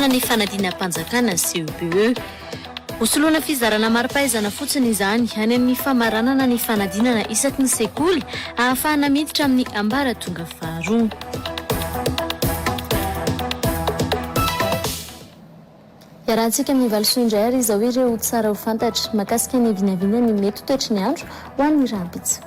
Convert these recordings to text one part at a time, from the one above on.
Fanampahana ny fanadinam-panjakana CEPE. Ho soloana fizarana mari-pahaizana fotsiny izany any amin'ny famaranana ny fanadinana isaky ny sekoly ahafahana miditra amin'ny ambaratonga faharoa. Iarahantsika amin'ny valisoa indray ary izao ireo tsara ho fantatra mahakasika ny vinavinan'ny mety ho toetry ny andro ho an'ny rahampitso.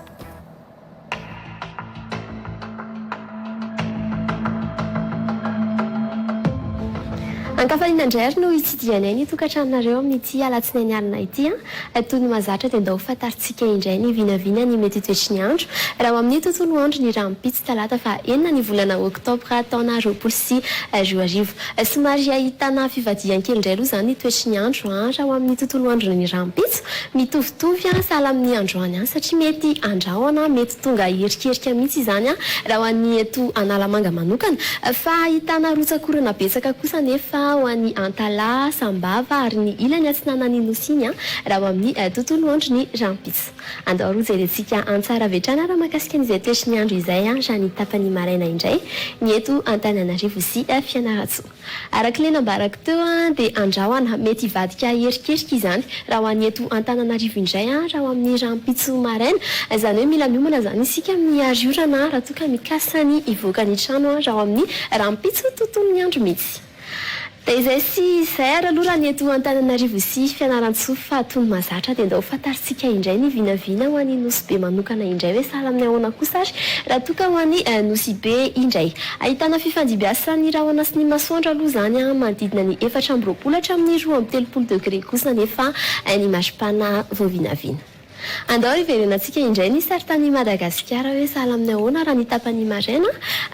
Ankafainina indray ary no hitsidihanay ny tokantranonareo amin'ity alatsinainy alina ity an! Toy ny mahazatra dia ndao fantarintsika indray ny vinavina ny mety hitoetry ny andro raha ao amin'ny tontolo andro ny rahampitso talata faha enina ny volana oktobra taona roapolo sy roa arivo. Somary ahitana fivadihany kely indray aloha izany ny toetry ny andro raha ao amin'ny tontolo andro ny rahampitso. Mitovitovy sahala amin'ny androany ihany satria mety handrahona, mety. Tonga hierikerika mihitsy izany raha ho an'ny eto Analamanga manokana, fa ahitana rotsak'orana betsaka kosa anefa ho an'i Antalaha, Sambava ary ny ilany atsinanan'ny Nosy iny raha ho amin'ny tontolo andro ny rahampitso. Andao aloha jerentsika an-tsara avy hatrany raha mahakasika an'izay toetry ny andro izay raha ny tapany maraina indray ny eto Antananarivo sy Fianarantsoa. Araka ilay nambarako teo dia andrahona mety hivadika herikerika izany raha ho an'ny eto Antananarivo indray raha ho amin'ny rahampitso maraina. Izany hoe mila miomana izany isika amin'ny hary orana raha toa ka mikasa ny hivoaka ny trano raha ho amin'ny rahampitso tontolon'ny andro misy. Dia izay sy izay ary aloha raha ny eto Antananarivo sy Fianarantsoa fa tony mazatra dia ndao fantarintsika indray ny vinavina ho an'ny Nosy Be manokana indray hoe sahala amin'ny ahoana kosa ary raha toa ka ho an'ny Nosy Be indray Ahitana fifandimbiasan'ny rahona sy ny masoandro aloha izany an, manodidina ny efatra amby roapolo hatramin'ny roa amby telopolo degre kosa anefa ny maripana vao vinavina. Andao hiverenantsika indray ny saritanin'i Madagasikara hoe sahala amin'ny ahoana raha ny tapany maraina.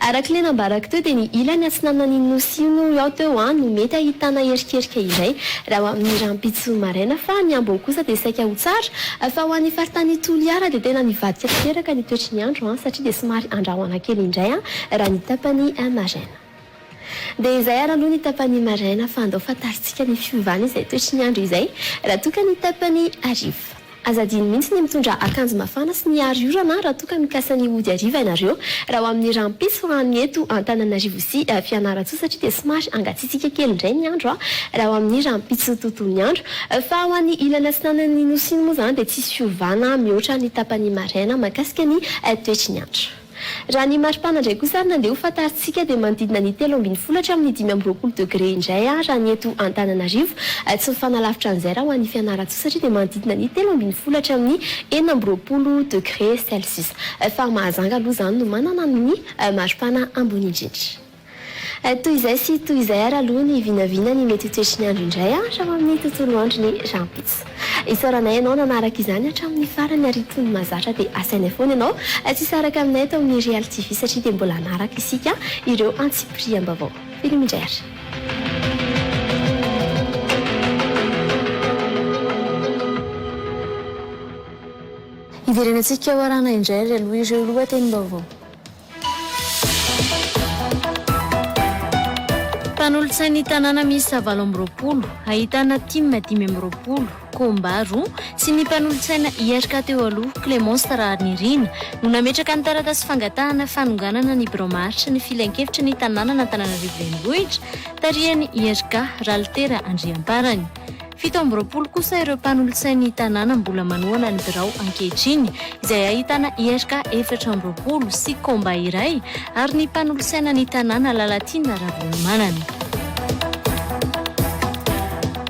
Araka ilay nambarako teo dia ny ilany atsinanan'iny nosy io noho ny ao teo an, no mety ahitana erikerika iray raha ho amin'ny rahampitso maraina fa ny ambony kosa dia saika ho tsara, Fa ho an'ny faritany Toliara dia tena mivadika tanteraka ny toetry ny andro satria dia somary andrahona kely indray raha ny tapany maraina. Dia izay ary aloha ny tapany maraina fa andao fantarintsika ny fiovana izay toetry ny andro izay raha toa ka ny tapany hariva. Aza adino mihitsy ny mitondra akanjo mafana sy ny aro orana raha toa ka mikasa ny hody hariva ianareo raha ho amin'ny rampism any eto Antananarivo sy Fianarantsoa satria dia somary hangatsiatsiaka kely indray ny andro raha ho amin'ny rampitso tontolo ny andro Fa ho an'ny ilany atsinanan'ny Nosy iny moa izany dia tsisy fiovana mihoatra ny tapany maraina mahakasika ny toetry ny andro. Raha ny maripana indray kosa ary nandeha ho fantarintsika dia manodidina ny telo ambin'ny folo hatramin'ny dimy amby roapolo degre indray raha ny eto Antananarivo. Tsy mifanalavitra an'izay raha ho an'i Fianarantsoa satria dia manodidina ny telo ambin'ny folo hatramin'ny enina amby roapolo degre celsius. Fa Mahajanga aloha izany no manana ny maripana ambony indrindra. Toy izay sy toy izay ary aloha ny vinavina ny mety ho toetry ny andro indray hatrao amin'ny tontolo andro ny rahampitso. Isaoranay ianao nanaraka izany hatramin'ny farany ary tony mahazatra dia asainay foana ianao tsy hisaraka aminay eto amin'ny Real TV satria dia mbola hanaraka isika ireo antsipiriam-baovao. Veloma indray ary. Hiverenantsika hoarana indray ary aloha ireo lohatenim-baovao. Mpanolotsain'ny tanàna miisa valo amby roapolo, ahitana tim dimy amby roapolo, Comba roa, sy ny mpanolotsaina IRK teo aloha, Clémence Raharinirina, no nametraka ny taratasy fangatahana fanonganana ny birao maharitra ny Filankevitry ny tanànan'Antananarivo Renivohitra, tarihan'ny IRK, Ralitera Andriamparany. Fito amby roapolo kosa ireo mpanolotsain'ny tanàna mbola manohana ny birao ankehitriny, izay ahitana IRK efatra amby roapolo sy Combat iray ary ny mpanolotsaina ny tanàna Lalatiana Ravalomanana.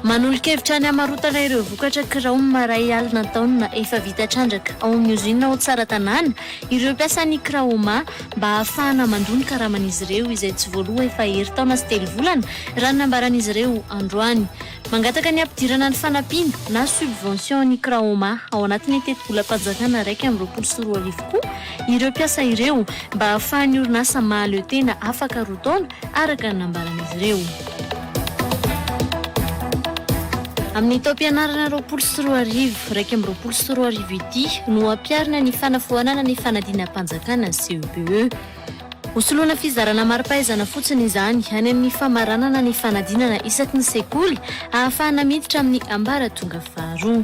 Manolo-kevitra ny hamarotana ireo vokatra kiraom maray alina an-taonina efa vita trandraka ao amin'ny ozinina ao Tsaratanàna ireo mpiasan'ny Kraoma mba hahafahana mandoa ny karaman'izy ireo izay tsy voaloa efa herintaona sy telo volana, raha ny nambaran'izy ireo androany. Mangataka ny hampidirana ny fanampiana na subvention ny Kraoma ao anatin'ny tetibolam-panjakana iraika amby roapolo sy roa arivo koa ireo mpiasa ireo mba hahafahan'ny orinasa mahaleo tena afaka roa taona, araka ny nambaran'izy ireo. Amin'ny taom-pianarana roapolo sy roa arivo, iraika amby roapolo sy roa arivo ity no hampiharina ny fanafoanana ny fanadinam-panjakana, CEPE. Ho soloana fizarana mari-pahaizana fotsiny izany any amin'ny famaranana ny fanadinana isaky ny sekoly hahafahana miditra amin'ny ambaratonga faharoa.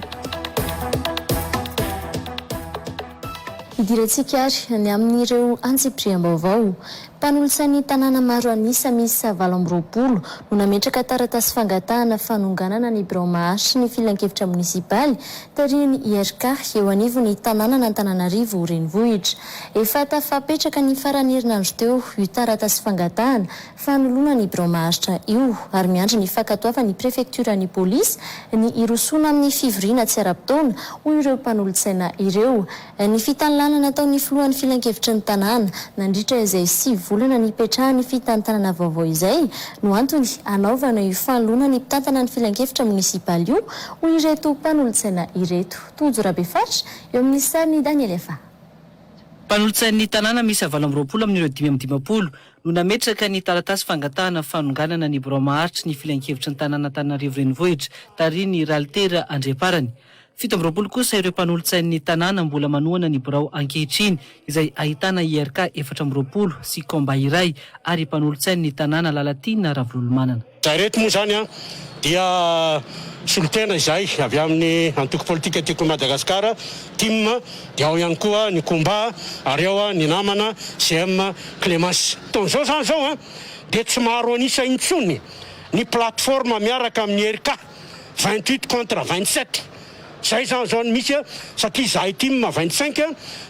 Hidirantsika ary ny amin'ireo antsipiriam-baovao. Mpanolotsain'ny tanàna maro an'isa miisa valo amby roapolo no nametraka taratasy fangatahana fanonganana ny birao maharitry ny filankevitra monisipaly Tarihin'ny IRK eo anivon'ny tanànan'Antananarivo Renivohitra. Efa tafapetraka ny faran'ny herinandro teo io taratasy fangatahana fanoloana ny birao maharitra io ary miandry ny fankatoavan'ny prefektioran'ny polisy ny hirosoana amin'ny fivoriana tsy ara-potoana, hoy ireo mpanolotsaina ireo. Ny fitanilana nataon'ny filohan'ny filankevitry ny tanàna, nandritra izay sivy volana nipetrahany fitantanana vaovao izay, no antony hanaovana io fanoloana ny mpitantana ny filankevitra monisipaly io, hoy ireto mpanolotsaina ireto. Tojo Rabefaritra, eo amin'ny sarin'i Daniel Efa. Mpanolotsain'ny tanàna miisa valo amby roapolo amin'ireo dimy amby dimampolo no nametraka ny taratasy fangatahana fanonganana ny birao maharitry ny filankevitry ny tanàn'Antananarivo Renivohitra tarihin'ny Ralitera Andriamparany. Fito amby roapolo kosa ireo mpanolotsain'ny tanàna mbola manohana ny birao ankehitriny, izay ahitana IRK efatra amby roapolo sy Combat iray ary mpanolotsain'ny tanàna Lalatiana Ravololomanana. Raha ireto moa izany dia solontena izay avy amin'ny antoko politika Tiako i Madagasikara, tim, dia ao ihany koa ny Combat ary ao ny namana CM Clemence. Taon'izao izany izao dia tsy maro an'isa intsony ny plateforme miaraka amin'ny IRK. Vingt huit contre vingt sept zay zany zao no misy a! satria zahay tim vingt cinq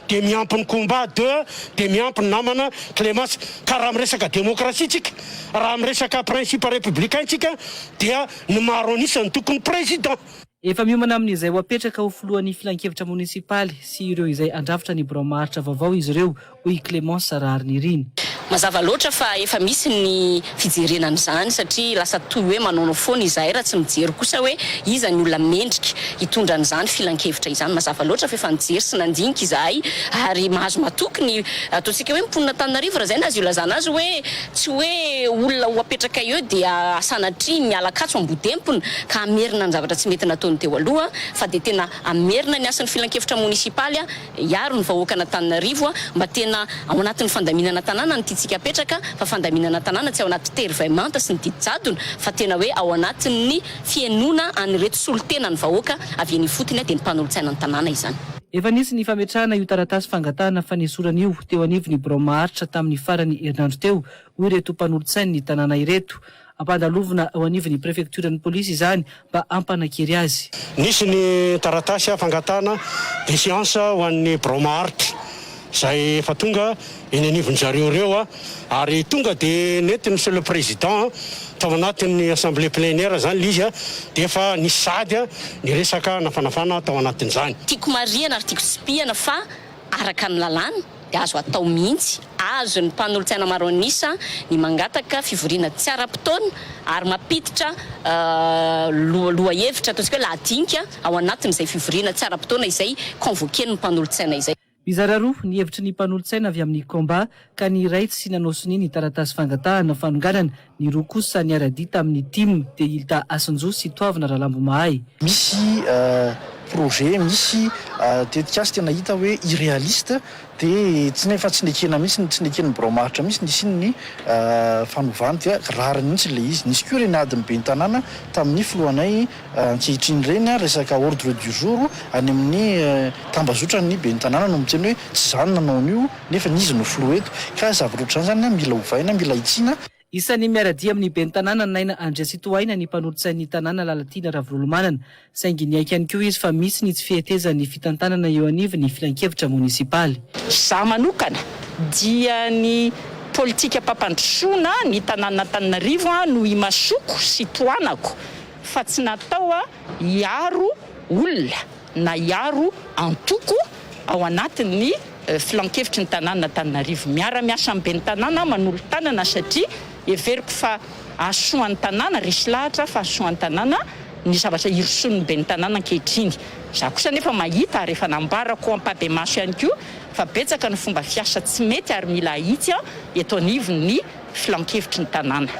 dia miampy ny combat de dia miampy ny namana Clemence ka raha miresaka démocratie tsika raha miresaka principe républicain tsika dia ny maro an'isa no tokony président. Efa miomana amin'izay ho apetraka ho filohan'ny filankevitra monisipaly sy ireo izay handrafitra ny birao maharitra vaovao izy ireo, hoy i Clémence Raharinirina. Mazava loatra fa efa misy ny fijerena an'izany satria lasa toy hoe manaonao foana izahay raha tsy mijery kosa hoe iza ny olona mendrika hitondra an'izany filankevitra izany. Mazava loatra fa efa nijery sy nandinika izahay ary mahazo matoky ny ataontsika hoe mponin'Antananarivo raha izay no azo ilazana azy hoe tsy hoe olona ho apetrakay eo dia sanatria miala katso ambodempony ka hamerina ny zavatra tsy mety nataony teo aloha fa dia tena hamerina ny hasin'ny filankevitra monisipaly hiaro ny vahoakan'Antananarivo mba tena ao anatin'ny fandaminana tanàna ny tiantsika apetraka fa fandaminana tanàna tsy ao anaty tery vay manta sy ny didy jadona fa tena hoe ao anatin'ny fihenoana an'ireto solontenan'ny vahoaka avy eny ifotony dia ny mpanolotsaina ny tanàna izany. Efa nisy ny fametrahana io taratasy fangatahana fanesorana io teo anivon'ny birao maharitra tamin'ny faran'ny herinandro teo, hoy ireto mpanolotsain'ny tanàna ireto. Ampandalovina eo anivon'ny prefektioran'ny polisy izany mba hampanakiry azy. Nisy ny taratasy fangatahana defiansa ho an'ny birao maharitra izay efa tonga eny anivon-dry zareo ireo ary tonga dia nentin'i Monsieur le Président tao anatin'ny assemblée plénière izany ilay izy dia efa nisy sady ny resaka nafanafana tao anatin'izany. Tiako marihana ary tiako tsipihana fa araka ny lalàna, dia azo atao mihitsy, azon' ny mpanolotsaina maro anisa ny mangataka fivoriana tsy ara-potoana ary mampiditra lohahevitra, ataontsika hoe lahadinika, ao anatin' izay fivoriana tsy ara-potoana izay convoquer ny mpanolotsaina izay. Mizara roa ny hevitry ny mpanolotsaina avy amin' ny Combat, ka ny iray tsy nanao sonia ny taratasy fangatahana fanonganana Ny roa kosa niara-dia tamin'ny tim dia i Lda Asinjo sy Toavina Ralambomahay. Misy projet, misy tetikasa tena hita hoe irrealiste dia tsy ny efa tsy nekena mihitsy, tsy neken'ny birao maharitra mihitsy ny hisian'ny fanovana dia rariny mihitsy ilay izy. Nisy koa ireny adin'ny ben'ny tanàna tamin'ny filohanay Ankehitriny ireny ary resaka ordre du jour any amin'ny tambazotran'ny ben'ny tanàna no miteny hoe tsy izaho no nanao an'io nefa ny izy no filoha eto. Ka zavatra ohatr'izany izany mila ovaina, mila hitsiana. Isan'ny miara-dia amin'ny ben'ny tanàna Naina Andriatsitohaina ny mpanolotsain'ny tanàna Lalatiana Ravololomanana saingy niaiky ihany koa izy fa misy ny tsy fihetezan'ny fitantanana eo anivon'ny filankevitra monisipaly. Izaho manokana dia ny politikam-pampandrosoana ny tanànan'Antananarivo no imasoko sy tohanako. fa tsy natao hiaro olona na hiaro antoko ao anatin'ny filankevitry ny tanànan'Antananarivo. Miara-miasa amin'ny ben'ny tanàna aho manolo-tanana satria heveriko fa hahasoan'ny tanàna, resy lahatra fa hahasoan'ny tanàna ny zavatra irosoan'ny ben'ny tanàna ankehitriny. Izaho kosa anefa mahita ary efa nambarako am-pahibemaso ihany koa fa betsaka ny fomba fiasa tsy mety ary mila ahitsy eto anivon'ny filankevitry ny tanàna.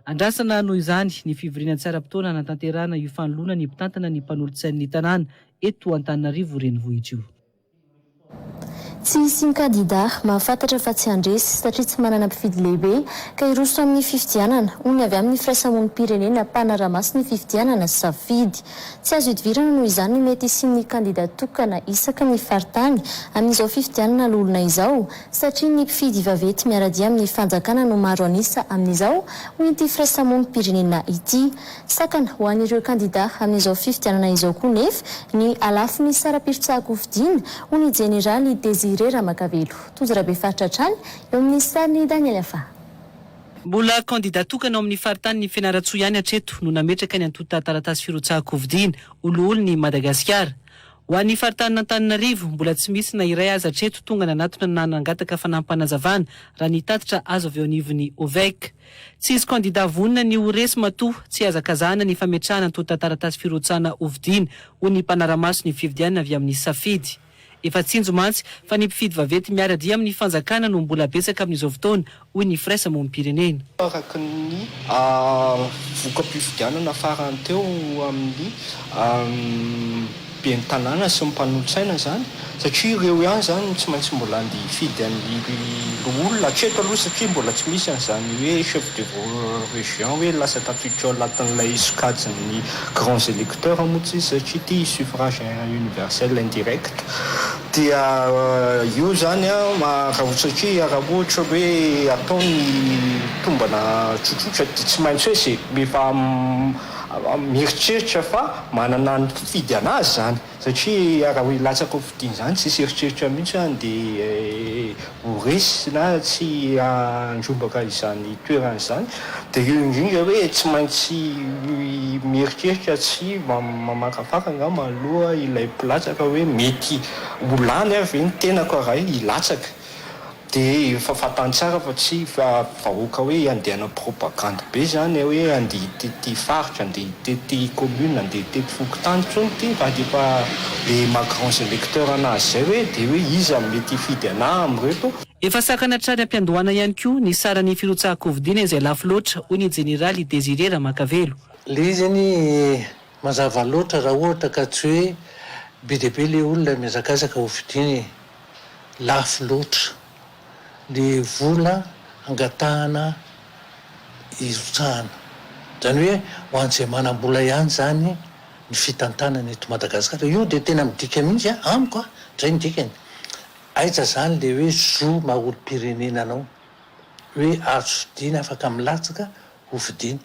Andrasana noho izany ny fivoriana tsy ara-potoana hanatanterahana io fanoloana ny mpitantana ny mpanolotsain'ny tanàna eto Antananarivo renivohitra io. Tsy hisy kandidà mahafantatra fa tsy handresy satria tsy manana mpifidy lehibe ka hiroso amin'ny fifidianana, hoy ny avy amin'ny firaisamonim-pirenena mpanara-maso ny fifidianana sy safidy. Tsy azo idivirana noho izany ny mety hisian'ny kandidà tokana isaky ny faritany amin'izao fifidianana loholona izao, satria ny mpifidy vaventy miara-dia amin'ny fanjakana no maro an'isa amin'izao, hoy ity firaisamonim-pirenena ity. Sakana ho an'ireo kandidà amin'izao fifidianana izao koa nefa ny halafon'ny saram-pirotsaham-pofidina, hoy ny jeneraly Désiré Ramakavelo. Tojo Rabefaritra hatrany eo amin'ny sarin'i Daniel Afaha. Mbola kandidà tokana ao amin'ny faritanin'i Fianarantsoa ihany hatreto no nametraka ny antontan-taratasy firotsahan-kofidiana ho loholon'i Madagasikara. Ho an'ny faritanin'Antananarivo, mbola tsy misy na iray aza hatreto tonga nanatona na nangataka fanampim-panazavana, raha ny tatitra azo avy eo anivon'ny Ovec. Tsisy kandidà vonona ny ho resy matoa tsy hazakazahana ny fametrahana antontan-taratasy firotsahana hovidiana ho ny mpanara-maso ny fifidianana avy amin'ny safidy. Efa tsinjo mantsy fa ny mpifidy vaventy miara-dia amin'ny fanjakana no mbola betsaka amin'izao fotoana hoy ny Frères Monim-pirenena. Araka ny voka-pifidianana farany teo amin'ny ben'ny tanàna sy ny mpanolotsaina izany satria ireo ihany izany no tsy maintsy mbola andeha hifidy an'ny loholona hatreto aloha satria mbola tsy misy an'izany hoe chef de région hoe lasa tafiditra ao anatin'ilay sokajin'ny grands électeurs moa tsy izy satria ity suffrage universel indirect Dia io zany raha ohatra ki raha ohatra hoe atao ny tombana tsotsotra dia tsy maintsy hoe ze efa mieritreritra fa manana ny mpifidy anazy zany satria raha hoe latsaka ho fidiana zany tsisy eritreritra mihitsy dia Ho resy na tsy handrombaka izany toerana izany dia eo indrindra hoe tsy maintsy mieritreritra sy mamakafaka angamba aloha ilay mpilatsaka hoe mety ho lany ary ve ny tenako raha hilatsaka dia efa fantany tsara fa tsy vahoaka hoe iandehanao propagande be zany hoe andeha tety faritra andeha tety commune andeha tety fokontany intsony ity fa dia efa le maha grands electeurs anazy zay hoe dia hoe iza no mety hifidy anah amin'ireto Efa sakana hatrany am-piandohana ihany koa ny saran'ny firotsahan-kofidiana izay lafo loatra, hoy ny jeneraly Désiré Ramakavelo. Ilay izy anie mazava loatra raha ohatra ka tsy hoe be dia be ilay olona mihazakazaka hofidiana e! Lafo loatra. ny vola angatahana hirotsahana. Izany hoe ho an'izay manam-bola ihany izany ny fitantanana eto Madagasikara. Io dia tena midika mihitsy an, amiko an, izay ny dikany. Aiza izany ilay hoe zo maha olom-pirenena anao, hoe azo fidiana, afaka milatsaka ho fidiana.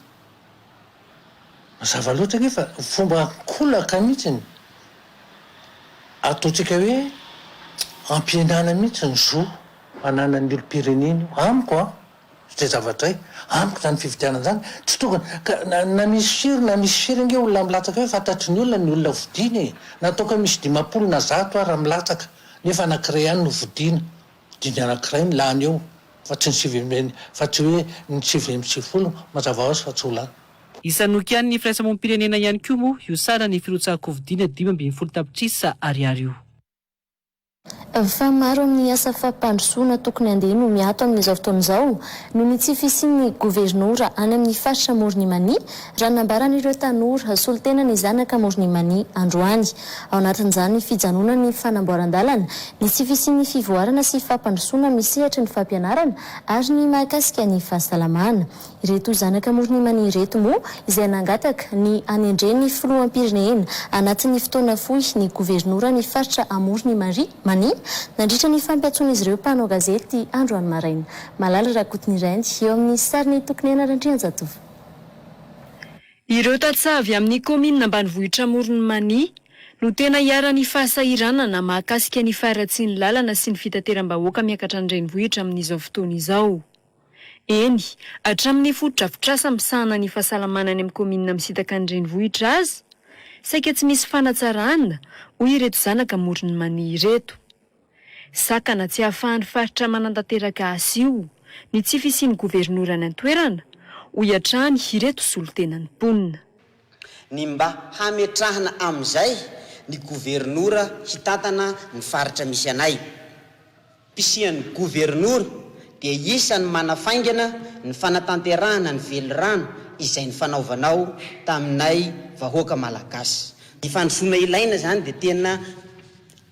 Mazava loatra ange fa fomba an-kolaka mihitsy ny ataontsika hoe ampihenana mihitsy ny zo ananan'ny olom-pirenena io. Amiko an, izay zavatra izay, amiko izany fifidianana izany tsy tokony, ka na misy firy na misy firy ange olona milatsaka eo, fantatry ny olona ny olona vodiana e! Na toa ka misy dimampolo na zato ara milatsaka, nefa anankiray ihany no vodiana. Dingana anankiray ny lany eo fa tsy ny sivy ambin'ny fa tsy hoe ny sivy amby sivifolo mazava hoazy fa tsy ho lany. Isan'ny nokianin'ny firaisamonim-pirenena ihany koa moa io saran'ny firotsahan-kofidiana dimy ambin'ny folo tapitrisa ariary io. Fa maro amin'ny asa fampandrosoana tokony handeha no miato amin'izao fotoana izao noho ny tsy fisian'ny governora any amin'ny faritra Amoron'i Mania Raha ny nambaran'ireo tanora, solontena ny zanaka amoron'i Imani androany. Ao anatin'izany fijanonan'ny fanamboaran-dalana, ny tsy fisian'ny fivoarana sy fampandrosoana amin'ny sehatry ny fampianarana ary ny mahakasika ny fahasalamana. Ireto zanaka amoron'i Imani ireto moa izay nangataka ny hanendren'ny filoham-pirenena anatin'ny fotoana fohy ny governoran'ny faritra amoron'i Imari, Mani, nandritra ny fampiantsoan'izy ireo mpanao gazety androany maraina. Malala Rakotonireny eo amin'ny sarin'i Tokinena Randrianjatovo. Ireo tantsaha avy amin'ny kaominina ambanivohitra Amoron'i Mania no tena iharan'ny fahasahiranana mahakasika ny faharatsian'ny lalana sy ny fitateram-bahoaka miakatra ny renivohitra amin'izao fotoana izao. Eny, hatramin'ny fotodrafitrasa misahana ny fahasalamana any amin'ny kaominina misintaka ny renivohitra aza saika tsy misy fanatsarana, hoy ireto zanaka Amoron'i Mania ireto. Sakana tsy ahafahan'ny faritra manantanteraka azy io ny tsy fisian'ny governora any an-toerana, hoy hatrany ireto solontenan'ny mponina. Ny mba hametrahana amin'izay ny governora hitantana ny faritra misy anay. Mpisian'ny governora dia isan'ny manafaingana ny fanatanterahana ny velirano izay nifanaovanao taminay vahoaka malagasy. Ny fandrosoana ilaina izany dia tena.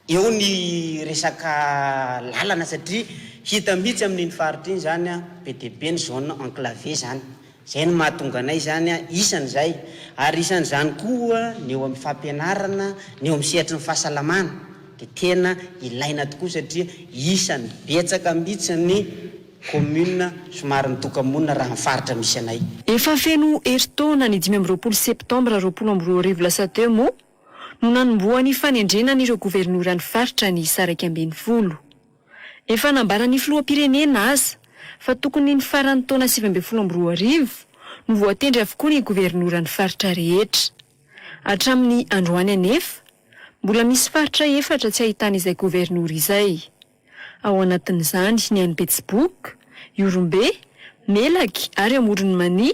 Eo ny resaka lalana satria hita mihitsy amin'iny faritra iny zany be dia be ny zone enclavée zany. Zay no mahatonga anay zany isany zay. Ary isan'izany koa ny eo amin'ny fampianarana, ny eo amin'ny sehatry ny fahasalamana dia tena ilaina tokoa satria isany betsaka mihitsy ny commune somary mitoka-monina raha ny faritra misy anay. Efa feno herintaona ny dimy amby roapolo septembre roapolo amby roa arivo lasa teo moa no nanombohan'ny fanendrena an'ireo governoran'ny faritra ny isa iraika ambin'ny folo. Efa nambaran'ny filoham-pirenena aza fa tokony ny faran'ny taona sivy ambin'ny folo amby roa arivo no voatendry avokoa ny governoran'ny faritra rehetra. Hatramin'ny androany anefa, mbola misy faritra efatra tsy ahitana izay governora izay. Ao anatin'izany ny any Betsiboka, Ihorombe, Melaky ary Amoron'i Mania,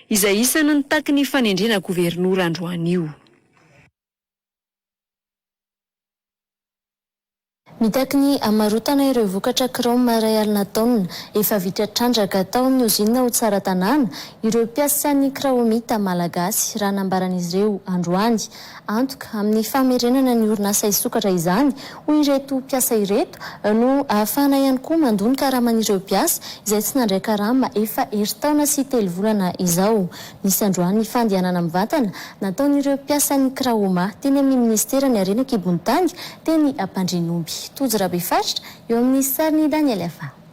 izay isan'ny nitaky ny fanendrena governora androany io. Mitaky ny hamarotana ireo vokatra kraoma iray alina taonina efa vita trandraka tao amin'ny ozinina ao Tsaratanàna ireo mpiasan'ny kraomita malagasy, raha nambaran'izy ireo androany. Antoka, amin'ny famerenana ny orinasa hisokatra izany ho ireto mpiasa ireto, no ahafahana ihany koa mandoa ny karaman'ireo mpiasa izay tsy nandray karama efa herintaona sy telo volana izao. Nisy androany fandehanana mivantana nataon'ireo mpiasan'ny Kraoma teny amin'ny Minisiteran'ny Harena an-kibon'ny tany teny Ampandrianomby. Tojo Rabefaritra eo amin'ny sarin'i Daniel Afa.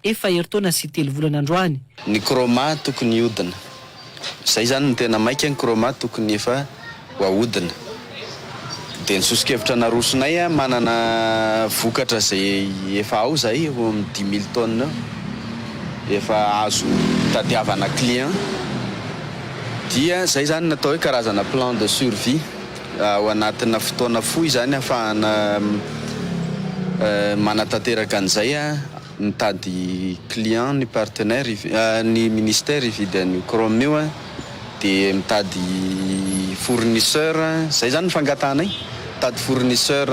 Efa herintaona sy telo volana androany. Ny chroma tokony hiodina. Zay zany no tena maika ny chroma tokony efa ho ahodina. Dia ny sosokevitra narosonay a manana vokatra zay efa ao zay eo amin'ny dix mille tonnes eo efa azo tadiavana client dia zay zany natao hoe karazana plan de survie ao anatina fotoana fohy zany afahana manatanteraka an'izay a. Mitady client ny partenaire ny ministère hividy an'io chrome io de mitady fournisseur zay zany ny fangatahanay mitady fournisseur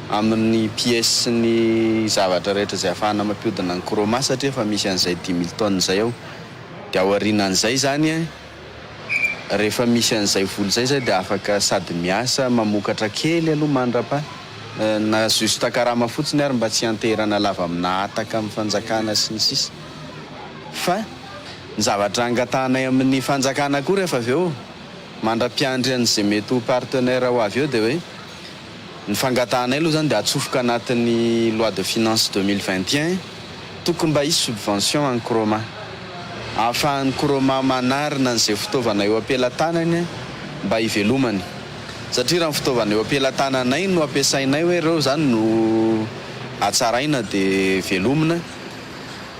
amin'ny pièces sy ny zavatra rehetra zay afahana mampiodina ny chroma satria efa misy an'izay dix mille tonnes zay ao de aorianan'izay zany rehefa misy an'izay vola izay zay dia afaka sady miasa mamokatra kely aloha mandrapa na juste karama fotsiny ary mba tsy hianteherana lava amina hataka amin'ny fanjakana sy ny sisa fa ny zavatra angatahanay amin'ny fanjakana koa rehefa avy eo mandra-piandry an'izay mety ho partenaire ho avy eo dia hoe Ny fangatahanay aloha izany dia atsofoka anatin'ny loi de finances deux mille vingt et un, tokony mba hisy subvention an'ny Croma. Ahafahan'ny Croma manarina an'izay fitaovana eo am-pelatanany mba hivelomany. Satria raha ny fitaovana eo am-pelatananay no ampiasainay hoe ireo izany no hatsaraina dia velomina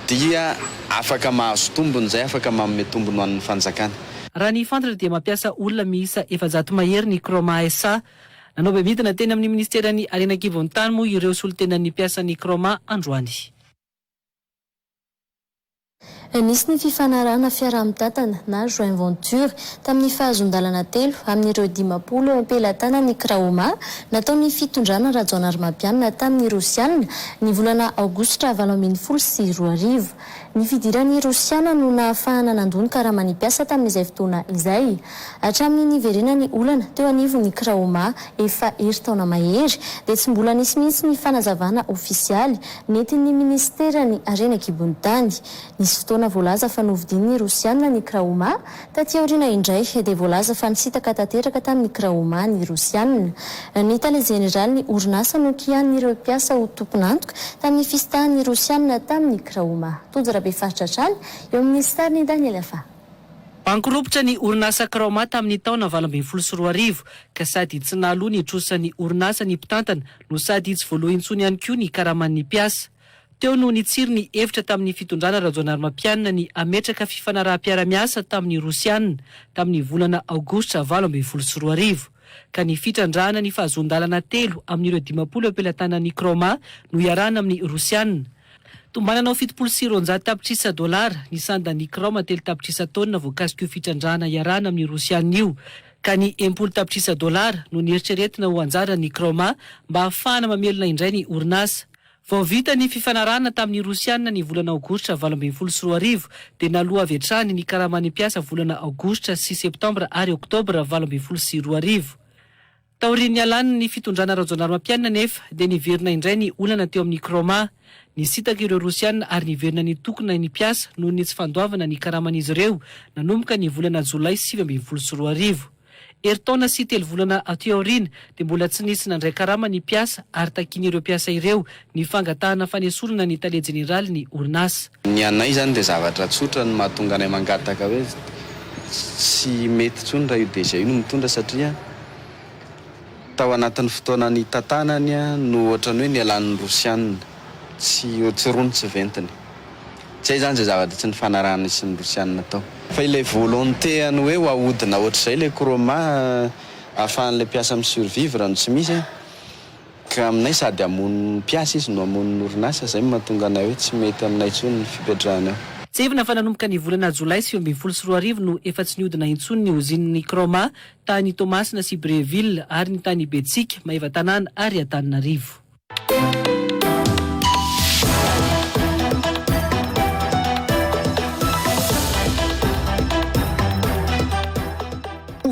dia afaka mahazo tombony izay, afaka manome tombony ho an'ny fanjakana. Raha ny fantatra dia mampiasa olona miisa efajato mahery ny Croma SA Nanaova midina teny amin'ny minisiteran'ny harena an-kibon'ny tany moa ireo solontenan'ny mpiasan'ny Croma androany. Nisy ny fifanarahana fiaraha-mitantana na joint venture tamin'ny fahazoan-dalana telo amin'ireo dimampolo eo am-pelatanan'ny Craoma nataon'ny fitondrana Rajaonarimampianina tamin'ny Rosiana ny volana Aogositra valo ambin'ny folo sy roa arivo. Ny fidiran'ny Rosiana no nahafahana nandoa ny karaman'ny mpiasa tamin'izay fotoana izay. Hatramin'ny niverenan'ny olana teo anivon'ny Kraoma efa herintaona mahery, dia tsy mbola nisy mihitsy ny fanazavana ofisialy nentin'ny Minisiteran'ny Harena an-kibon'ny tany. Nisy fotoana voalaza fa novidin'ny Rosiana ny Kraoma Taty aoriana indray, dia voalaza fa nisintaka tanteraka tamin'ny Kraoma ny Rosiana. Ny tale jeneralin'ny orinasa Nokia an'ireo mpiasa ho tompon'antoka tamin'ny fisitahan'ny Rosiana tamin'ny Kraoma. Tojo Rabefaritra hatrany eo amin'ny sarin'i Daniel Afah. Bankiropitra ny orinasa Kraoma tamin'ny taona valo ambin'ny folo sy roa arivo, ka sady tsy nahaloa ny trosan'ny orinasa ny mpitantana no sady tsy voaloa intsony ihany koa ny karaman'ny mpiasa. Teo no nitsiry ny hevitra tamin'ny fitondrana Rajaonarimampianina ny hametraka fifanaraham-piara-miasa tamin'ny Rosiana tamin'ny volana Aogositra valo ambin'ny folo sy roa arivo, ka ny fitrandrahana ny fahazoan-dalana telo amin'ireo dimampolo eo am-pelatanan'i Craoma no iarahana amin'ny Rosiana. Tombanana ho fitopolo sy roanjato tapitrisa dolara ny sandan'ny Craoma telo tapitrisa taonina voakasik'io fitrandrahana iarahana amin'ny Rosiana io, ka ny enimpolo tapitrisa dolara no neritreretina ho anjaran'ny Craoma mba hahafahana mamelona indray ny orinasa. Vao vita ny fifanarahana tamin'ny Rosiana ny volana Aogositra valo ambin'ny folo sy roa arivo dia naloa avy hatrany ny karaman'ny mpiasa volana Aogositra sy Septambra ary Oktobra valo ambin'ny folo sy roa arivo. Taorian'ny nialan'ny fitondrana Rajaonarimampianina anefa dia niverina indray ny olana teo amin'ny Kroma. Nisintaka ireo Rosiana ary niverina nitokona ny mpiasa noho ny tsy fandoavana ny karaman'izy ireo nanomboka ny volana Jolay sivy ambin'ny folo sy roa arivo. Herintaona sy telo volana aty aoriana dia mbola tsy nisy nandray karama ny mpiasa ary takian'ireo mpiasa ireo ny fangatahana fanesorana ny tale jeneraly ny orinasa. Ny anay izany dia zavatra tsotra no mahatonga anay mangataka hoe tsy mety intsony raha io DG io no mitondra satria tao anatin'ny fotoana nitantanany no ohatran'ny hoe nialan'ny Rosiana. tsy ho tsirony tsy ventiny. Zay zany zay zavatra tsy nifanarahan'ny sy ny rosianina tao. Fa ilay volonté an'ny hoe ho ahodina ohatr'izay ilay chroma ahafahan'ilay mpiasa mi survivre no tsy misy an! Ka aminay sady hamono ny mpiasa izy no hamono ny orinasa, zay no mahatonga anay hoe tsy mety aminay intsony ny fipetrahany ao. Tsahivina fa nanomboka ny volana jolay sivy ambin'ny folo sy roa arivo no efa tsy nihodina intsony ny ozinin'ny chroma tany Toamasina sy Brieville ary ny tany Betsiaka, Maevatanàna ary Antananarivo.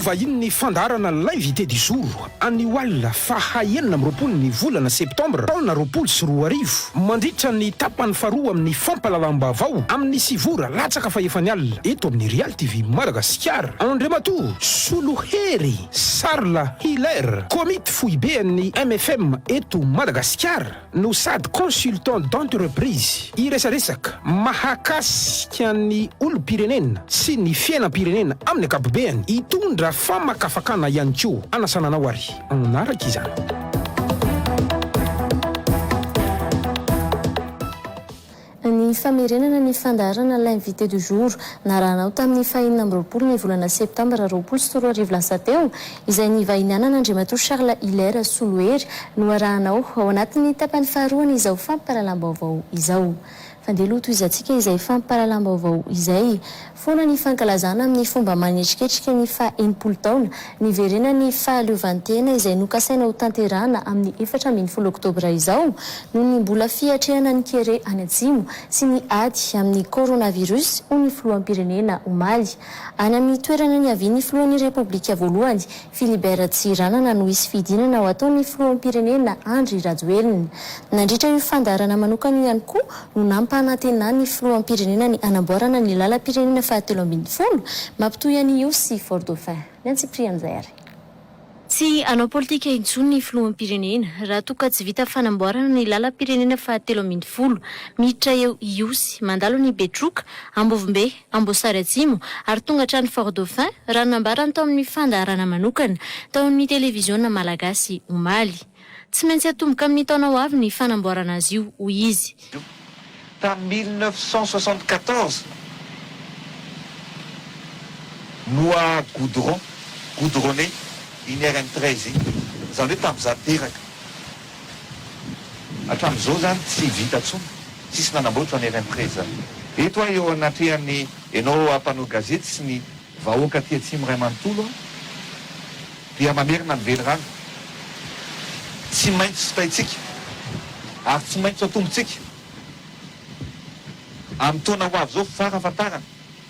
Hovahinin'ny fandaharana L'invité du jour anio alina faha enina amby roapolo ny volana septambra taona roapolo sy roa arivo, mandritra ny tapany faharoa amin'ny fampahalalam-baovao amin'ny sivy ora latsaka fahefany alina eto amin'ny Real TV Madagasikara. Andriamatoa Solohery. Charles Hiller, Komity Foiben'ny MFM eto Madagasikara no sady Consultant d'entreprise, hiresaresaka mahakasika ny olom-pirenena sy ny fiainam-pirenena amin'ny ankapobeny, hitondra famakafakana ihany koa. Anasana anao ary hanaraka izany. Ny famerenana ny fandaharana L'Invité du jour narahanao tamin'ny fahenina amby roapolo ny volana septambra roapolo sy roa arivo lasa teo, izay nivahinianan' Andriamatoa Charles Hilaire Solohery, noarahanao ao anatin'ny tapany faharoan'izao fampahalalam-baovao izao. Fandeha aloha tohizantsika izay fampahalalam-baovao izay. Foana ny fankalazana amin'ny fomba manetriketrika ny faha enimpolo taona niverenan'ny fahaleovantena izay nokasaina ho tanterahana amin'ny efatra ambin'ny folo oktobra izao noho ny mbola fiatrehana ny kere any atsimo sy ny ady amin'ny coronavirus hoy ny filoham-pirenena omaly any amin'ny toerana niavian'ny filohan'ny repoblika voalohany Philibert Tsiranana no hisy fidinana ho ataon'ny filoham-pirenena Andry Rajoelina. Nandritra io fandaharana manokana io ihany koa no nampanantenan'ny filoham-pirenena ny hanamboarana ny lalam-pirenena fahatelo ambin'ny folo mampitohy an'i Ihosy sy Fort Dauphin. Ny an'i Cyprien Nzary. Tsy hanao politika intsony ny filoham-pirenena raha toa ka tsy vita fanamboarana ny lalam-pirenena fahatelo ambin'ny folo miditra eo Ihosy, mandalo an'i Betroka, Ambovombe, Amboasary Atsimo, ary tonga hatrany Fort Dauphin, raha ny nambarany tao amin'ny fandaharana manokana tao amin'ny televiziona malagasy omaly. Tsy maintsy hatomboka amin'ny taona ho avy ny fanamboarana azy io, hoy izy. Tamin'ny mille neuf cent soixante-quatorze no a goudron, goudronné, iny rn treize iny, izany hoe tamin'izaho teraka. Hatramin'izao izany tsy vita intsony, tsisy nanamboatra ny RMPRE izany. Eto aho eo anatrehan'ny enao mpanao gazety sy ny vahoaka aty atsimo iray manontolo aho dia mamerina ny velirano tsy maintsy sotaintsika ary tsy maintsy atombotsika amin'ny taona ho avy izao farafahatarany.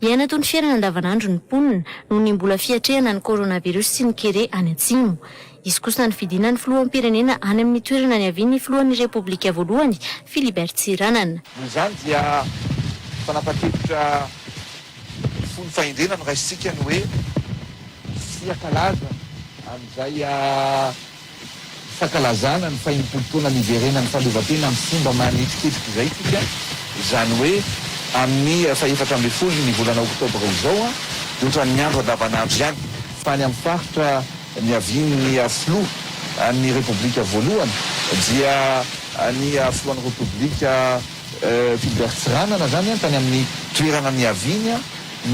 Miaina toy ny fiainana andavanandro ny mponina, noho ny mbola fiatrehana ny coronavirus sy ny kere any Atsimo. Hisy kosa ny fidinan'ny filoham-pirenena any amin'ny toerana niavian'ny filohan'ny Repoblika voalohany, Philibert Tsiranana. Noho izany dia fanapan-kevitra fony fahendrena no raisintsika ny hoe, Tsy hiaka laza amin'izay. Fankalazana ny fahenimpolo taona niverenan'ny fahaleovantena amin'ny fomba manetriketrika izay isika, izany hoe amin'ny fahefatra ambin'ny folo ny volana oktobra izao, ohatran'ny andro andavanandro ihany, fa any amin'ny faritra niavian'ny filoha an'ny repoblika voalohany dia ny filohan'ny repoblika Philbert Tsiranana izany tany amin'ny toerana niaviany,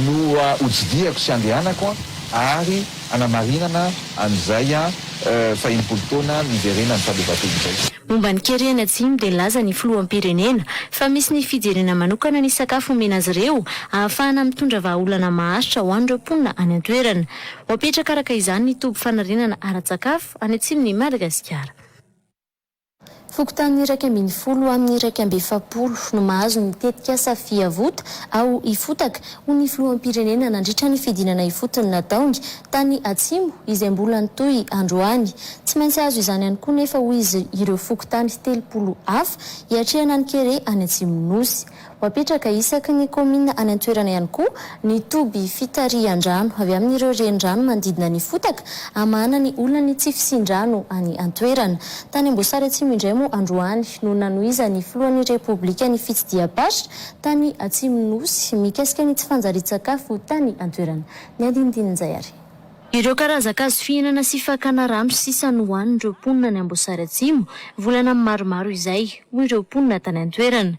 no hotsidihako sy handehanako ary hanamarinana an'izay fahenimpolo taona niverenan'ny fahaleovantena izay. Momba ny Kerihana Atsimo dia nilaza ny Filoham-pirenena fa misy ny fijerena manokana ny sakafo omena azy ireo ahafahana mitondra vahaolana maharitra ho an'ireo mponina any an-toerana. Ho apetraka araka izany ny toby fanarenana ara-tsakafo any atsimon'i Madagasikara. Fokontany iraika ambin'ny folo ho amin'ny iraika amby efapolo no mahazo ny tetikasa Fiavota aho hifotaka ho ny filoham-pirenena nandritra ny fidinana ifotony nataony tany Atsimo izay mbola nitohy androany. Tsy maintsy hahazo izany ihany koa nefa hoy izy ireo fokontany telopolo hafa hiatrehana ny kere any Atsimo Nosy. Ho apetraka isaky ny kaominina any an-toerana ihany koa ny toby fitarihan-drano avy amin'ireo renirano manodidina ny fotaka hamahana ny olana ny tsy fisian-drano any an-toerana. Tany Amboasary Atsimo indray moa androany no nanohizan'ny filohan'ny Repoblika ny fitsidiham-paritra tany Atsimo Nosy mikasika ny tsy fanjarian-tsakafo tany an-toerana. Ny andinindininy izay ary. Ireo karazan-kazo fihinana sy fakana rano sisa nohanin'ireo mponina any Amboasary Atsimo volana maromaro izay, hoy ireo mponina tany an-toerana.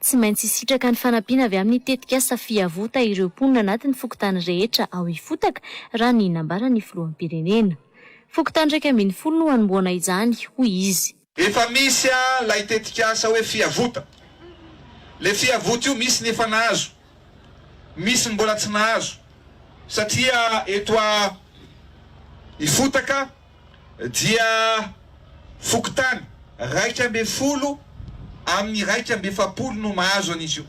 Tsy maintsy hisitraka ny fanampiana avy amin'ny tetikasa Fiavota ireo mponina anatin'ny fokontany rehetra ao Ifotaka, raha ny nambaran'ny filoham-pirenena. Fokontany iraika ambin'ny folo no hanombohana izany, hoy izy. Efa misy ilay tetikasa hoe Fiavota. Ilay Fiavota io misy ny efa nahazo, misy ny mbola tsy nahazo satria eto Ifotaka, dia fokontany iraika ambin'ny folo amin'ny iraika amby efapolo no mahazo an'izy io.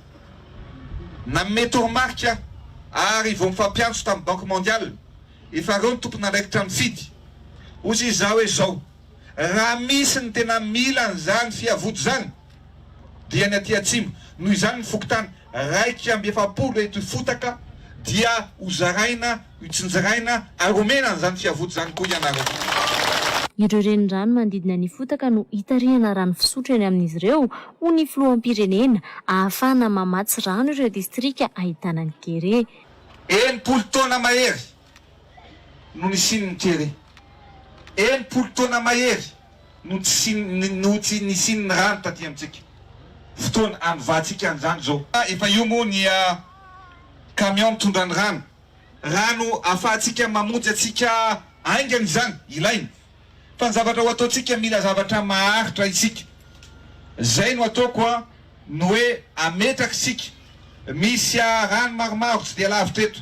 Nanome toromarika aho ary vao mifampiantso tamin'ny Banque Mondiale efa ireo ny tompon'andraikitra mifidy. Hoy izy izao hoe izao, Raha misy ny tena mila an'izany fihavodizany, dia ny aty atsimo. Noho izany ny fokontany iraika amby efapolo eto Ifotaka dia ho zaraina, hitsinjiraina ary homena an'izany fiavoty izany koa ianareo. Ireo renirano manodidina an'i Ifotaka no hitarihana rano fisotro eny amin'izy ireo, hoy ny filoham-pirenena, ahafahana mamatsy rano ireo distrika ahitana ny kere. Enimpolo taona mahery no nisian'ny kere. Enimpolo taona mahery no tsy no tsy nisian'ny rano taty amintsika. Fotoana hanivantsika an'izany izao. Efa eo moa ny camion mitondra ny rano. Rano ahafahantsika mamonjy antsika haingana izany, ilaina. Fa ny zavatra ho ataontsika mila zavatra maharitra isika. Izay no ataoko ny hoe ametraka isika. Misy rano maromaro tsy dia lavitra eto.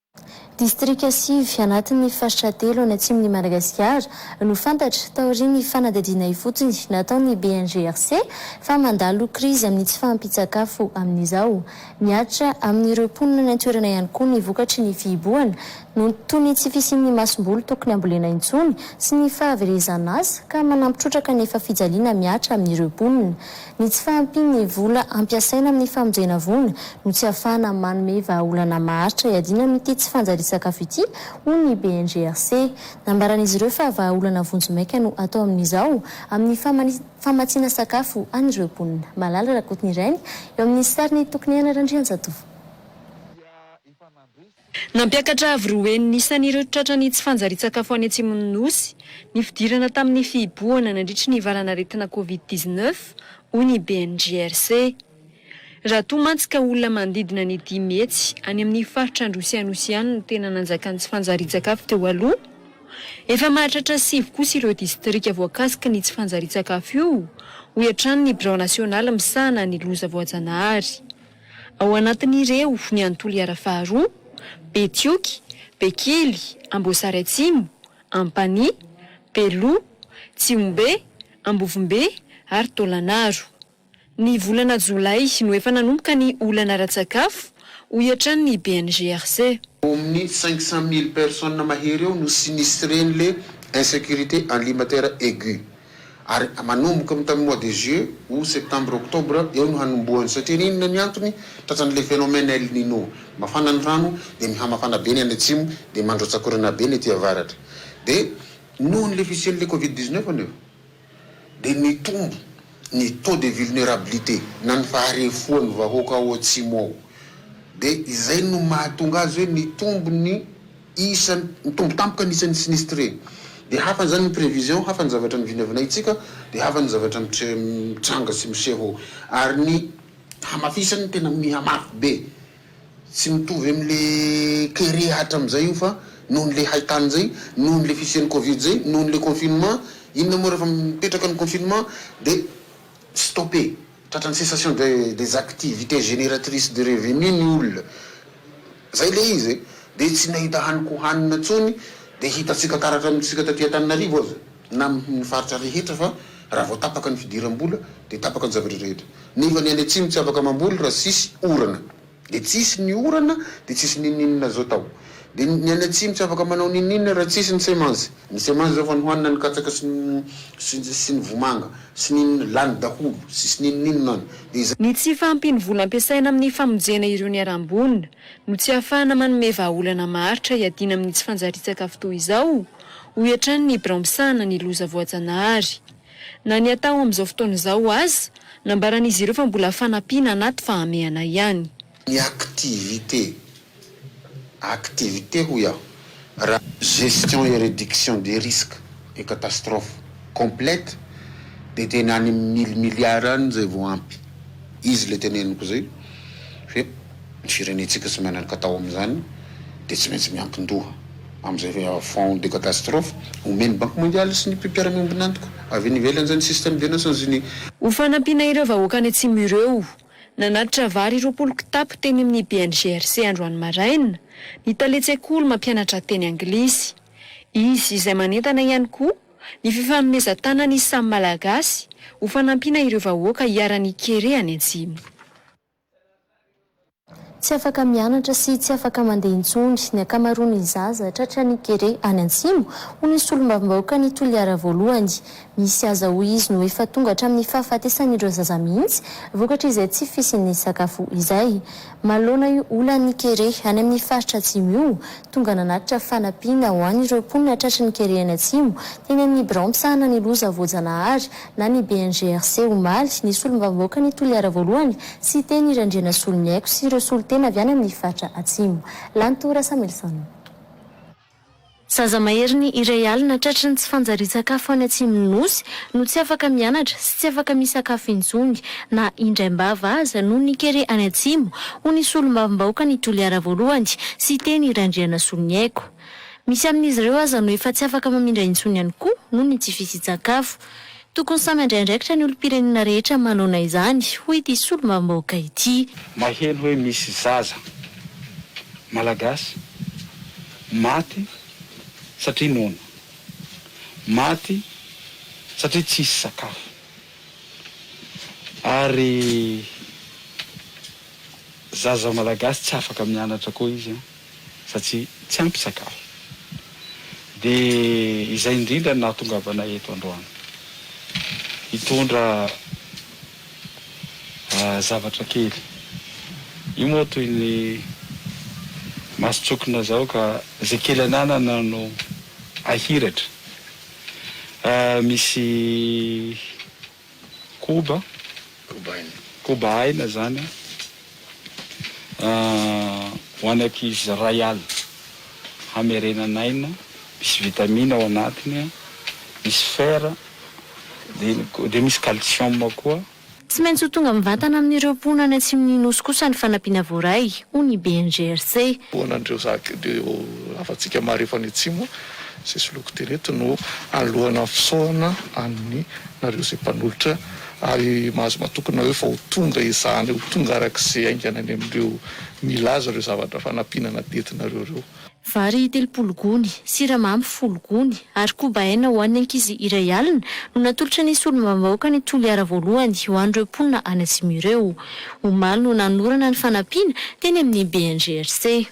Distrika sivy anatin'ny faritra telo any atsimon'i Madagasikara no fantatra, taorian'ny fanadihadiana ifotony nataon'ny BNGRC, fa mandalo krizy amin'ny tsy fahampian-tsakafo amin'izao. Mihatra amin'ireo mponina any an-toerana ihany koa ny vokatry ny fihibohana, noho toy ny tsy fisian'ny masomboly tokony hambolena intsony sy ny fahaverezan'asa, ka manampy trotraka ny efa fijaliana mihatra amin'ireo mponina. Ny tsy fahampian'ny vola ampiasaina amin'ny famonjena voina no tsy ahafahana manome vahaolana maharitra hiadiana amin'ity tsy fanjarian-tsakafo ity, hoy ny BNGRC. Nambaran'izy ireo fa vahaolana vonjy maika no atao amin'izao amin'ny famatsiana sakafo an'ireo mponina. Malala Rakotonireny, eo amin'ny sarin'i Tokiniaina Randrianjatovo. Nampiakatra avo roa heny ny isan'ireo tratran'ny tsy fanjarian-tsakafo any atsimon'ny Nosy, ny fidirana tamin'ny fihibohana nandritry ny valan'aretina Covid dix-neuf, hoy ny BNGRC. Raha toa mantsy ka olona manodidina ny dimy hetsy any amin'ny faritra Androy sy Anosy ihany no tena nanjakan'ny tsy fanjarian-tsakafo teo aloha, efa mahatratra sivy kosa ireo distrika voakasiky ny tsy fanjarian-tsakafo io, hoy hatrany ny birao nasionaly misahana ny loza voajanahary. Ao anatin'ireo ny any Toliara faharoa, Betioky, Bekily, Amboasary Atsimo, Ampanihy, Beloha, Tsihombe, Ambovombe ary Taolagnaro. Ny volana jolay no efa nanomboka ny olana ara-tsakafo, hoy hatrany ny BNGRC. Au minute cinq cent mille personnes mahery eo no sinistre-n'le insécurité alimentaire aiguë. Ary manomboka amin'ny tamin'ny mois de juillet, aout, septembre, octobre eo no hanombohany satria ry inona ny antony? Tratran'ilay phénomène El Nino. Mafana ny rano dia mihamafana be ny any atsimo dia mandrotsak'orana be ny aty avaratra. Dia nohon'ilay fisian'ilay covid dix-neuf anefa dia nitombo ny taux de vulnerabilité na ny faharefoan'ny vahoaka ao atsimo ao. Dia izay no mahatonga azy hoe nitombo ny. isa ny tombo tampoka ny isan'ny sinistre dia hafa izany ny prevision hafa ny zavatra ny vinavinaintsika dia hafa ny zavatra mitranga sy miseho ary ny hamafisany tena mihamafy be tsy mitovy amle kere hatramzay io fa noho nle haitany zay noho nle fisian'ny covid zay noho nle confinement inona moa rehefa mipetraka ny confinement dia stopper Tratran'ny cessation des activités génératrices de revenus ny olona. Zay le izy e! Dia tsy nahita haniko hohanina tsony dia hitantsika taratra amintsika taty Antananarivo aza na amin'ny faritra rehetra fa raha vao tapaka ny fidiram-bola dia tapaka ny zavatra rehetra. Nefa ny any atsimo tsy afaka mamboly raha tsisy orana. Dia tsisy ny orana dia tsisy ninoninona zao tao dia ny any atsimo tsy afaka manao ninoninona raha tsisy ny semences ny semences zao fa nohanina ny katsaka sy ny sy ny vomanga sy ny inona lany daholo tsisy ninoninona any dia izay Ny tsy fahampian'ny vola ampiasaina amin'ny famonjena ireo niharam-boina no tsy ahafahana manome vahaolana maharitra hiadiana amin'ny tsy fanjarian-tsakafo toy izao, hoy hatrany ny birao misahana ny loza voajanahary. Na ny atao amin'izao fotoana izao aza, nambaran'izy ireo fa mbola fanampiana anaty fahamehana ihany. Ny activité, activité hoy aho, raha. Gestion et réduction des risques et catastrophes complète dia tena any amin'ny mille milliards any izay vao ampy. Izy ilay teneniko izay hoe. Ny firenentsika tsy miana-katao amin'izany dia tsy maintsy miankin-doha amin'izay fonds de catastrophe omen'ny Banky Mondialy sy ny mpiara-miombon'antoka avy any ivelany izay ny Système des Nations Unies. Ho fanampiana ireo vahoaka any Atsimo ireo, nanatitra vary roapolo kitapo teny amin'ny BNGRC androany maraina ny tale tsekoly mampianatra teny anglisy. Izy izay manentana ihany koa ny fifanomezan-tanan'ny samy Malagasy ho fanampiana ireo vahoaka iharan'ny kere any Atsimo. Tsy afaka mianatra sy tsy afaka mandeha intsony ny ankamaroan'ny zaza tratran'ny kere any Antsimo, hoy ny solombavambahoakan'i Toliara Voalohany. Misy aza hoy izy no efa tonga hatramin'ny fahafatesan'ireo zaza mihitsy vokatr'izay tsy fisian'ny sakafo izay. Manoloana io olan'ny kere any amin'ny faritra Atsimo io, tonga nanatitra fanampiana ho an'ireo mponina tratry ny kere any Atsimo teny amin'ny birao misahana ny loza voajanahary na ny BNGRC omaly, ny solombavambahoakan'i Toliara Voalohany, Siteny Randrianasoloniaiko sy ireo solontena avy any amin'ny faritra Atsimo. Lanto Rasamelson. Zaza maheriny iray alina tratry ny tsy fanjarian-tsakafo any atsimon'ny Nosy no tsy afaka mianatra sy tsy afaka misakafo intsony na indraim-bava aza noho ny kere any Atsimo, hoy ny solombavambahoakan'i Toliara Voalohany, Siteny Randrianasoloniaiko. Misy amin'izy ireo aza no efa tsy afaka mamindra intsony ihany koa noho ny tsy fisian-tsakafo. Tokony samy handray andraikitra ny olom-pirenena rehetra manoana izany, hoy ity solombavambahoaka ity. Maheno hoe misy zaza Malagasy maty satria noana, maty satria tsy hisy sakafo ary zaza Malagasy tsy afaka mianatra koa izy an! satria tsy ampy sakafo. Dia izay indrindra no nahatongavanay eto androany. Hitondra zavatra kely. Io moa toy ny mason-tsokina izao ka izay kely ananana no ahiratra. Misy. koba, koba aina, koba aina zany ho an'ny ankizy ray alina hamerenan'aina misy vitamine ao anatiny misy fer dia misy calcium koa. Tsy maintsy ho tonga mivantana amin'ireo mponina any atsimon'ny Nosy kosa ny fanampiana voaray, hoy ny BNGRC. An'ireo zaka ireo havantsika marefo any atsimo izay soloiko teny eto no alohana fisaohana amin'ny. nareo izay mpanolotra ary mahazo matoky nareo fa ho tonga ezahana ho tonga araka izay haingana any amin'ireo milaza ireo zavatra fanampiana nadetinareo ireo. Vary telopolo gony, siramamy folo gony ary koba hena ho an'ny ankizy iray alina no natolotra ny solombavambahoaka ny Toliara voalohany ho an'ireo mponina any Atsimo ireo. Omaly no nanorana ny fanampiana teny amin'ny BNGRC.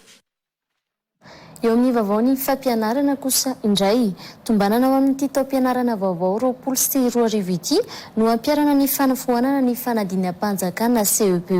Eo amin'ny vaovaon'ny fampianarana kosa indray, tombanana ho amin'ity taom-pianarana vaovao roapolo sy roa arivo ity no hampiharana ny fanafoanana ny fanadinam-panjakana CEPE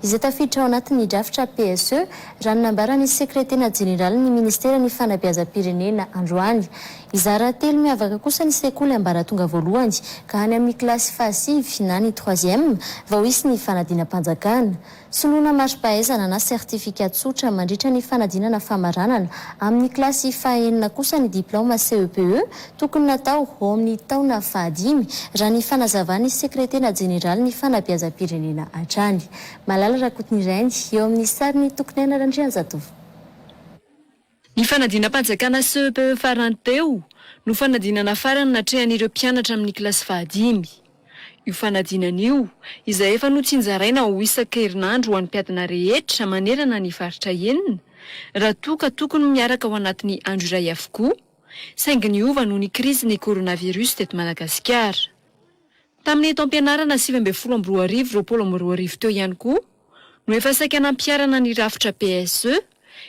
izay tafiditra ao anatin'ny drafitra PSE raha ny nambaran'ny sekretena jeneralin'ny ministeran'ny fanabeazam-pirenena androany. Hizara telo miavaka kosa ny sekoly ambaratonga voalohany ka any amin'ny kilasy fahasivy na ny troisième vao hisy ny fanadinam-panjakana. Soloana mari-pahaizana na certificat tsotra mandritra ny fanadinana famaranana. Amin'ny kilasy fahaenina kosa ny diplaoma CEPE tokony natao ho ao amin'ny taona fahadimy, raha ny fanazavan'ny Sekretera Jeneralin'ny Fanabeazam-pirenena hatrany. Malala Rakotonirainy, eo amin'ny sarin'i Tokoniaina Randrianjatovo. Ny fanadinam-panjakana CEPE farany teo no fanadinana farany natrehan'ireo mpianatra amin'ny kilasy fahadimy. Io fanadinana io, izay efa notsinjaraina ho isan-kerinandro ho an'ny mpiadina rehetra manerana ny faritra enina, raha toa ka tokony miaraka ao anatin'ny andro iray avokoa, saingy niova noho ny krizin'ny coronavirus teto Madagasikara. Tamin'ny taom-pianarana sivy ambin'ny folo amby roa arivo, roapolo amby roa arivo teo ihany koa no efa saika nampiharana ny rafitra PSE,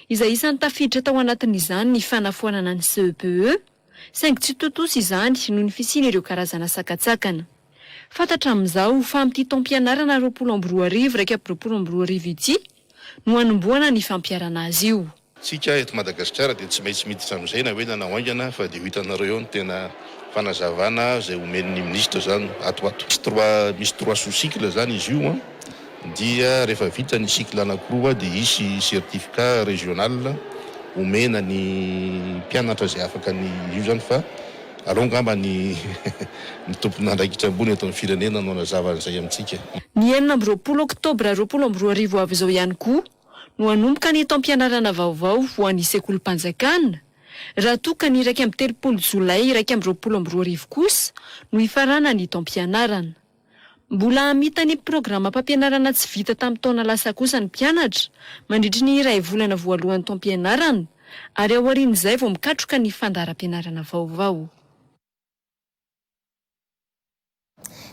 izay isan'ny tafiditra tao anatin'izany ny fanafoanana ny CEPE, saingy tsy tontosa izany noho ny fisian'ireo karazana sakantsakana. Fantatra amin'izao fa amin'ity taom-pianarana roapolo amby roa arivo iraika amby roapolo amby roa arivo ity no hanombohana ny fampiharana azy io. Tsika eto Madagasikara dia tsy maintsy miditra amin'izay na ela na ho haingana fa dia ho hitanareo eo ny tena fanazavana izay homen'ny ministra izany ato ho ato. Misy trois sous cycle izany izy io an, dia rehefa vita ny cycle anakiroa dia hisy certificat régional homena ny mpianatra izay afaka ny io izany fa aleo angamba ny ny tompon'andraikitra ambony eto amin'ny firenena no hanazava an'izay amintsika. Ny enina amby roapolo oktobra roapolo amby roa arivo avy izao ihany koa no hanomboka ny taom-pianarana vaovao ho an'ny sekolim-panjakana, raha toa ka ny iraika amby telopolo jolay iraika amby roapolo amby roa arivo kosa no hifarana ny taom-pianarana. Mbola hamita ny programam-pampianarana tsy vita tamin'ny taona lasa kosa ny mpianatra mandritry ny iray volana voalohan'ny taom-pianarana ary aorian'izay vao mikatroka ny fandaharam-pianarana vaovao.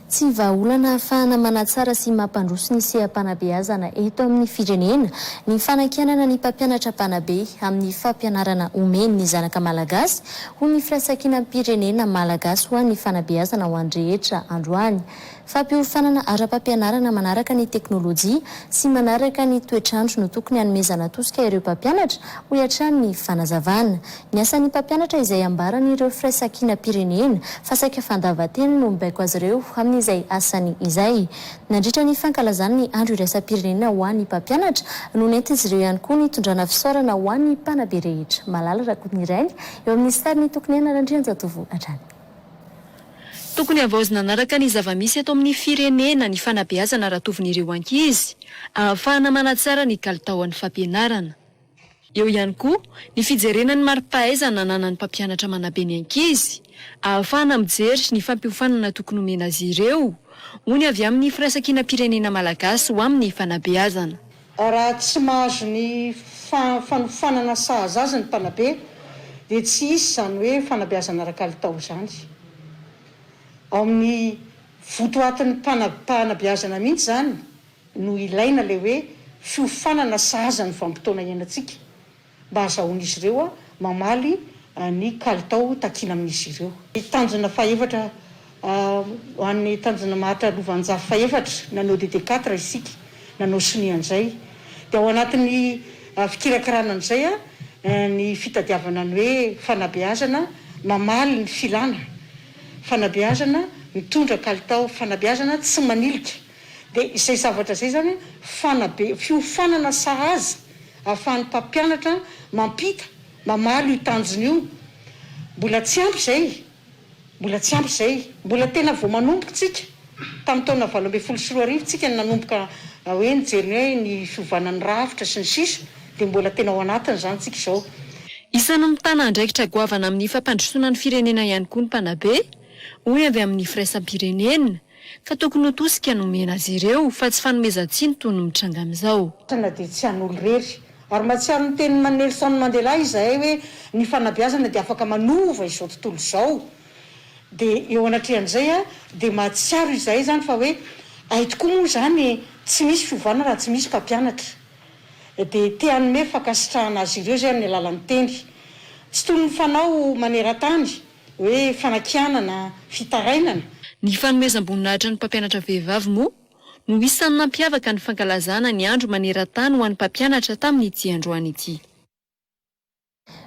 Tsy vahaolana ahafahana manatsara sy mampandroso ny seha-panabeazana eto amin'ny firenena ny fanakianana ny mpampianatra mpanabe amin'ny fampianarana omeny ny zanaka malagasy, hoy ny Firaisankinam-pirenena Malagasy ho an'ny fanabeazana ho an'ny rehetra androany. Fampiofanana ara-pampianarana manaraka ny teknolojia sy manaraka ny toetr'andro no tokony hanomezana tosika ireo mpampianatra, hoy hatrany ny fanazavana. Ny asan'ny mpampianatra izay ambaran'ireo firaisankinam-pirenena fa saika fandavan-tena no mibaiko azy ireo amin'izay asany izay. Nandritra ny fankalazana ny andro iraisam-pirenena ho an'ny mpampianatra no nentin'izy ireo ihany koa ny tondrana fisaorana ho an'ny mpanabe rehetra. Malala Rakotonirainy eo amin'ny sarin'i Tokoniaina Randrianjatovo hatrany. Tokony havaozina anaraka ny zava-misy eto amin'ny firenena ny fanabeazana ratovin'ireo ankizy, ahafahana manatsara ny kalitaon'ny fampianarana. Eo ihany koa ny fijerena ny mari-pahaizana ananan'ny mpampianatra manabe ny ankizy, ahafahana mijery ny fampiofanana tokony homena azy ireo, hoy ny avy amin'ny Firaisankinam-pirenena malagasy ho amin'ny fanabeazana. Raha tsy mahazo ny fanofanana sahaza azy ny mpanabe dia tsy hisy izany hoe fanabeazana ara-kalitao izany. Ao amin'ny votoatin'ny fanabeazana mihitsy izany no ilaina ilay hoe fiofanana sahaza ny vanim-potoana iainantsika. mba hazahoan'izy ireo mamaly ny kalitao takiana amin'izy ireo. Ny tanjona fahefatra Ho an'ny tanjona maharitra lovanjafy fahefatra, nanao DD quatre isika, nanao sonia an'izay. Dia ao anatin'ny fikirakirana an'izay ny fitadiavana ny hoe fanabeazana mamaly ny filana, fanabeazana mitondra kalitao, fanabeazana tsy manilika. Dia izay zavatra izay izany fanabe, fiofanana sahaza. Ahafahan'ny mpampianatra mampita, mamaly io tanjona io. Mbola tsy ampy izay. Mbola tsy ampy izay. Mbola tena vao manomboka isika. Tamin'ny taona valo ambin'ny folo sy roa arivo isika no nanomboka hoe nijery ny hoe ny fiovana ny rafitra sy ny sisa, dia mbola tena ao anatiny izany isika izao. Isan'ny mitana andraikitra goavana amin'ny fampandrosoana ny firenena ihany koa ny mpanabe, hoy avy amin'ny firaisam-pirenena. Ka tokony ho tosika no omena azy ireo fa tsy fanomezan-tsiny toy ny mitranga amin'izao. Tena dia tsy an'olo-rery. Ary mahatsiaro ny tenin'i Nelson Mandela izahay hoe ny fanabeazana dia afaka manova izao tontolo izao. Dia eo anatrehan'izay dia mahatsiaro izahay izany fa hoe hay tokoa moa izany tsy misy fiovana raha tsy misy mpampianatra. Dia te hanome fankasitrahana azy ireo izay amin'ny alalan'ny teny. Tsy toy ny fanao maneran-tany. hoe fanakianana, fitarainana. Ny fanomezam-boninahitra ny mpampianatra vehivavy moa no isan'ny nampiavaka ny fankalazana ny andro maneran-tany ho an'ny mpampianatra tamin'ity androany ity.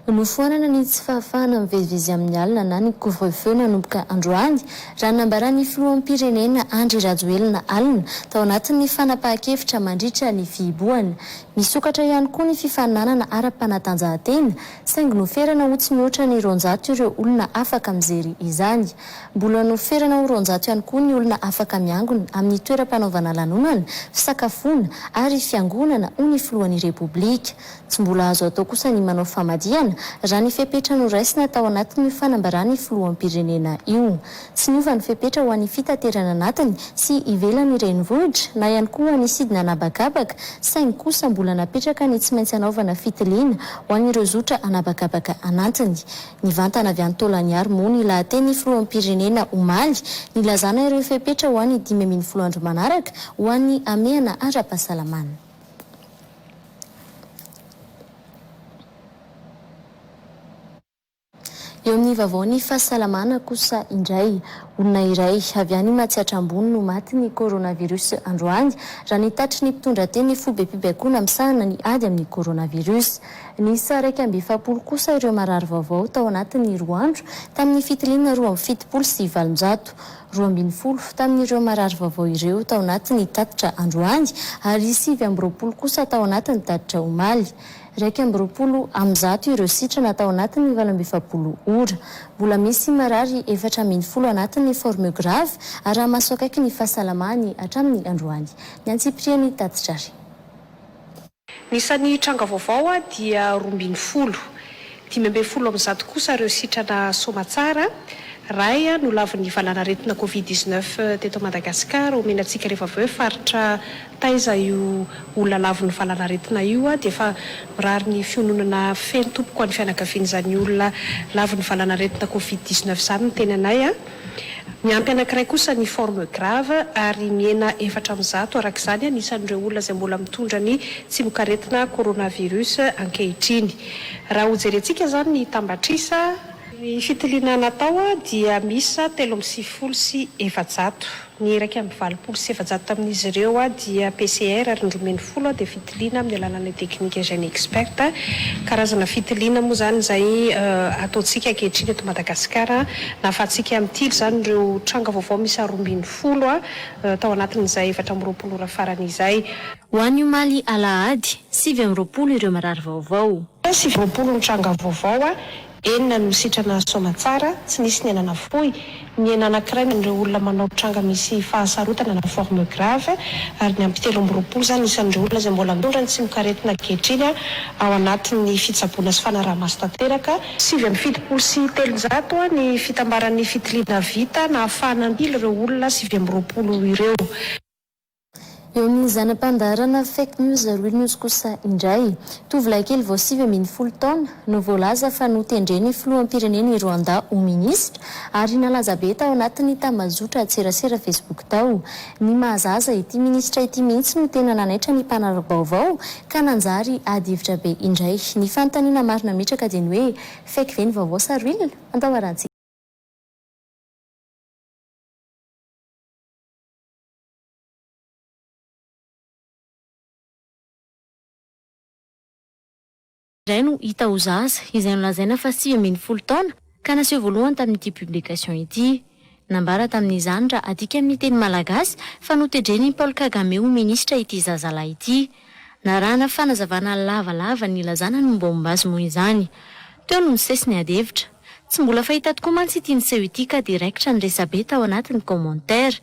Nofoanana ny tsy fahafahana mivezivezy amin'ny alina na ny couvre-feu nanomboka androany, raha nambaran'ny filoham-pirenena Andry Rajoelina alina, tao anatin'ny fanapahan-kevitra mandritra ny fihibohana. Misokatra ihany koa ny fifaninanana ara-panatanjahantena, Saingy noferana ho tsy mihoatra ny roanjato ireo olona afaka mijery izany. Mbola noferana ho roanjato ihany koa ny olona afaka miangona amin'ny toeram-panaovana lanonana, fisakafoana ary fiangonana, hoy ny filohan'ny Repoblika. Tsy mbola azo atao kosa ny manao famadihana, raha ny fepetra noraisina tao anatin'io fanambaran'ny filoham-pirenena io. Tsy niova ny fepetra ho an'ny fitaterana anatiny sy ivelan'ny renivohitra na ihany koa ho an'ny sidina an'habakabaka, saingy kosa mbola napetraka ny tsy maintsy hanaovana fitiliana ho an'ireo zotra an'habakabaka anatiny. Nivantana avy any Taolagnaro moa ny lahaten'ny filoham-pirenena omaly, nilazana ireo fepetra ho an'ny dimy ambin'ny folo andro manaraka ho an'ny hamehana ara-pahasalamana. Eo amin'ny vaovao ny fahasalamana kosa indray, olona iray avy any Matsiatra Ambony no maty ny coronavirus androany, raha ny tatitry ny mpitondra teny ny fobem-pibaikoana misahana ny ady amin'ny coronavirus. Niisa iraika amby efapolo kosa ireo marary vaovao tao anatin'ny roa andro tamin'ny fitiliana roa amby fitopolo sy valonjato. Roa ambin'ny folo tamin'ireo marary vaovao ireo tao anatin'ny tatitra androany ary sivy amby roapolo kosa tao anatin'ny tatitra omaly. Iraika amby roapolo amin'ny zato ireo sitrana tao anatin'ny valo amby efapolo ora. Mbola misy marary efatra ambin'ny folo anatin'ny forme grave araha-maso akaiky ny fahasalamany hatramin'ny androany. Ny antsipiriany tatitra ary. Ny isan'ny tranga vaovao dia roa ambin'ny folo. Dimy ambin'ny folo amin'ny zato kosa ireo sitrana soamatsara ray nolavin'ny valanaretina covid dix-neuf teto Madagasikara. Omena antsika rehefa avy hoe faritra taiza io olona lavin'ny valanaretina io dia efa mirary ny fiononana feno tompoko ho an'ny fianakavian'izany olona lavin'ny valanaretina covid dix-neuf izany ny teny anay. Miampy anankiray kosa ny forme grave ary mihena efatra amin'ny zato araka izany ny isan'ireo olona izay mbola mitondra ny tsimokaretina coronavirus ankehitriny. Raha hojerentsika izany ny tambatrisa. Ny fitiliana natao dia miisa telo amby sivifolo sy efajato. Ny iraika amby valopolo sy efajato tamin'izy ireo dia PCR ary ny roa ambin'ny folo dia fitiliana amin'ny alalan'ny teknika GeneXpert. Karazana fitiliana moa izany izay ataontsika ankehitriny eto Madagasikara. Nahafahantsika mitily izany ireo tranga vaovao miisa roa ambin'ny folo tao anatin'izay efatra amby roapolo ora farany izay. Ho an'ny omaly alahady, sivy amby roapolo ireo mirary vaovao. Sivy amby roapolo ny tranga vaovao Enina no sitrana soamatsara, tsy nisy ny anana fohy, ny ena anankiray amin'ireo olona manao tranga misy fahasarotana na forme grave, ary ny ampy telo amby roapolo izany isan'ireo olona izay mbola nondran'ny tsimokaretina ankehitriny ao anatin'ny fitsaboana sy fanaraha-maso tanteraka. Sivy amby fitopolo sy telonjato ny fitambaran'ny fitiliana vita nahafahana nandily ireo olona sivy amby roapolo ireo. Eo amin'ny zana-pandaharana Fake News Real News kosa indray, tovolahy kely vao sivy ambin'ny folo taona no voalaza fa notendren'ny filoham-pirenena i Rwanda ho minisitra ary nalaza be tao anatin'ny tambazotran-tserasera Facebook tao. Ny mahazaza, ity minisitra ity mihitsy no tena nanaitra ny mpanara-baovao ka nanjary adihevitra be indray. Ny fanontaniana maro nametraka dia ny hoe fake ve ny vaovao sa real? Andao harahantsika. iray no hita ho zaza izay nolazaina fa sivy ambin'ny folo taona ka naseho voalohany tamin'ity publication ity. Nambara tamin'izany raha adika amin'ny teny malagasy fa notedren'i Paul Kagame ho minisitra ity zazalahy ity. Narahana fanazavana lavalava nilazana ny mombamomba azy moa izany. Teo no nisesy ny adihevitra. Tsy mbola fahita tokoa mantsy ity niseho ity ka dia raikitra ny resabe tao anatin'ny commentaires.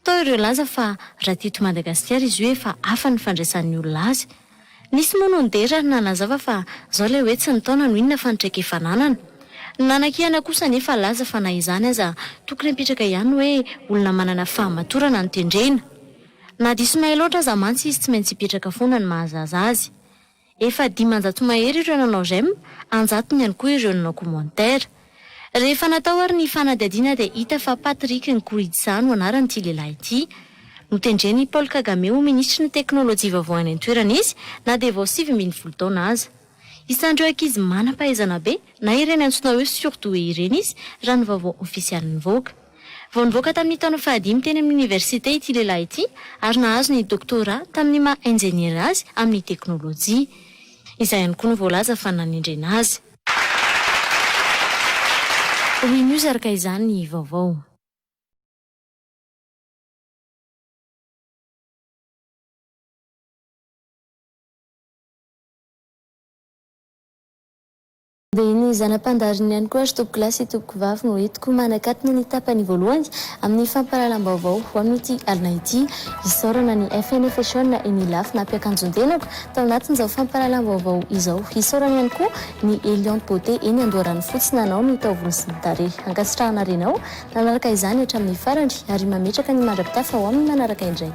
Tao ireo nilaza fa raha teto Madagasikara izy io efa hafa ny fandraisan'ny olona azy. Nisy moa no nidera ary nanazava fa izao ilay hoe tsy ny taona no inona fa ny traikefa ananana. Ny nanakihana kosa anefa nilaza fa na izany aza tokony hapetraka ihany hoe olona manana fahamatorana no tendrena. Na diso nahay loatra aza mantsy izy tsy maintsy hipetraka foana ny mahazaza azy. Efa dimanjato mahery ireo nanao j'aime, anjatony ihany koa ireo nanao commentaire. Rehefa natao ary ny fanadihadiana dia hita fa Patrick Nkuridza no anaran'ity lehilahy ity. Notendren'i Paul Kagame ho minisitry ny teknolojia vaovao any an-toerana izy na dia vao sivy ambin'ny folo taona aza. Isan'ireo ankizy manam-pahaizana be na ireny antsoina hoe surdoués ireny izy raha ny vaovao ofisialy nivoaka. Vao nivoaka tamin'ny taona fahadimy teny amin'ny oniversite ity lehilahy ity ary nahazo ny doctorat tamin'ny maha injeniera azy amin'ny teknolojia. Izay ihany koa no voalaza fa nanendrena azy. We News araka izany ny vaovao. Dia ny zana-pandariny ihany koa ry tompokolahy sy tompokovavy no entiko manakatona ny tapany voalohany amin'ny fampahalalam-baovao ho amin'ity alina ity. Isaorana ny FNFHON eny Ilafy nampiakanjon-tenako tao anatin'izao fampahalalam-baovao izao. Isaorana ihany koa ny Eliante Beauté eny Andoharanofotsy nanao ny taovolo sy ny tarehy. Ankasitrahana ary ianao nanaraka izany hatramin'ny farany ary mametraka ny mandra-pitafa ho amin'ny manaraka indray.